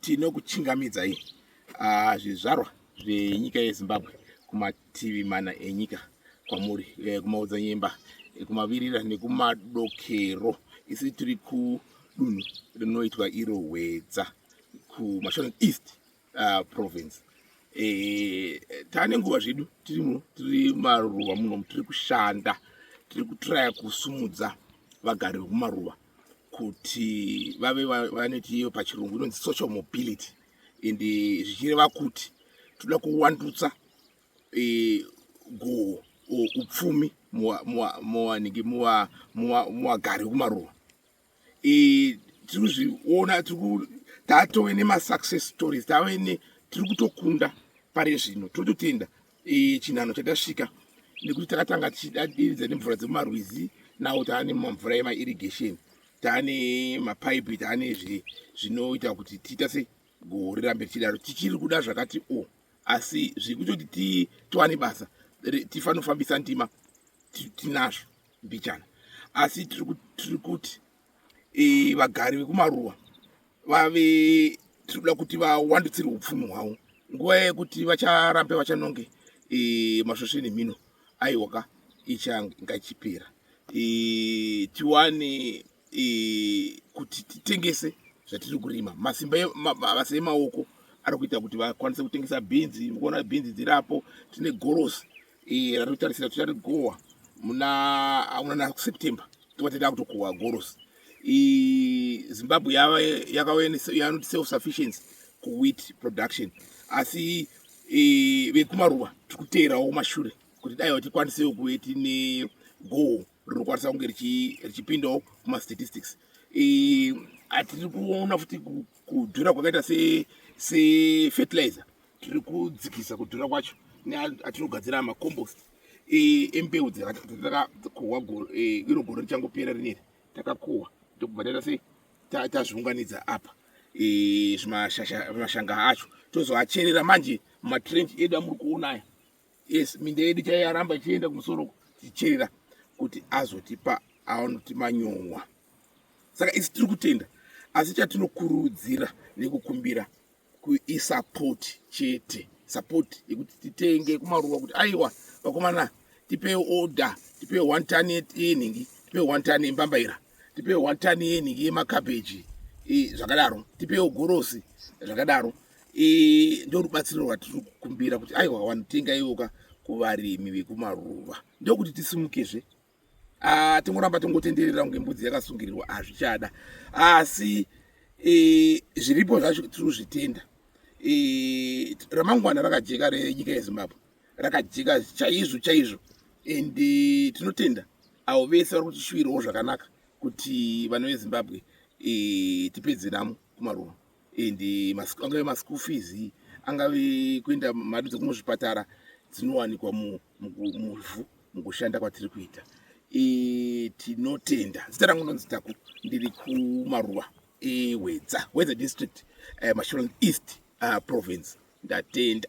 tinokuchingamidzai ah, zvizvarwa zvenyika yezimbabwe kumativi mana enyika kwamuri eh, kumaodzanyemba eh, kumavirira nekumadokero isi tiri kudunhu rinoitwa iro hwedza kumashonen east uh, province e, tane nguva zvedu tiri muno tiri maruva muno tiri kushanda tiri kutraya kusumudza vagari vekumaruva kuti vave vanoti iyo pachirungu inonzi social mobility and zvichireva kuti toda kuwandutsa e, goho upfumi muwanike muwagari wekumaruva tiri kuzviona tiri tatove nemasuccess stories tave ne tiri kutokunda pari zvino tototenda e, chinhano chatasvika nekuti takatanga tichidadiridza nemvura dzemumarwizi nawo taane mamvura emairrigation taane mapaipi taane zvinoita kuti tiita se goho rirambe richidaro tichiri kuda zvakati o oh, asi zviri kutoti tiwane basa tifanofambisa ndima tinazvo mbichana asi tiri kuti e, vagari vekumaruwa vave tiri kuda kuti vawandutsire upfumi hwavo nguva yekuti vacharambe vachanonge e, masvosve nemhino aiwaka ichanga ichipera e, tiwane e, kuti titengese zvatiri kurima masimba mabasa emaoko ari kuita kuti vakwanise kutengesa bhinzi mukuona bhinzi dzirapo tine gorosi Iye anotarisira kuti anogohwa muna auna na September tova tata kutokohwa goros Zimbabwe yava yakanoti self sufficiency kuwheat production asi vekumaruva tiri kuteerawo mashure kuti dai tikwanisewo kuve tine goho rinokwanisa kunge richipindawo kumastatistics atiri kuona futi kudhura kwakaita sefertilizer tiri kudzikisa kudhura kwacho neatinogadzira macompost e, embeu dzatakakohwa e, iro gore richangopera rineri takakohwa ndokubva taita sei tazviunganidza apa e, zvimashanga acho tozoacherera manje mumatrench edu amuri kuona aya yes minda yedu chaiyaramba ichienda kumusoro tichicherera kuti azotipa aonoti manyowa saka isi tiri kutenda asi chatinokurudzira nekukumbira isapoti chete sapoti yekuti titenge kumaruwa kuti aiwa vakomana tipee order tipee one ton yenhingi tipee one ton yembambaira tipee one ton yenhingi yemakabheji zvakadaro tipewo gorosi zvakadaro ndorubatsiro rwatiri kukumbira kuti aiwa wanotenga iwoka kuvarimi vekumaruva ndokuti tisimukezve Ah, tingoramba tongotenderera kunge mbudzi yakasungirirwa hazvichada asi eh, zviripo zvacho tiri kuzvitenda eh, ramangwana rakajeka renyika yezimbabwe rakajeka chaizvo chaizvo and eh, tinotenda avo vese vari kutishuwirawo zvakanaka kuti vana vezimbabwe tipedze namo kumaruva and angave maschool fees angave kuenda mari dzekumuzvipatara dzinowanikwa mu muvhu mukushanda kwatiri kuita e, tinotenda zita rangu ndonzi taku ndiri kumaruwa ewedza wedza district uh, eh, masholand east uh, province ndatenda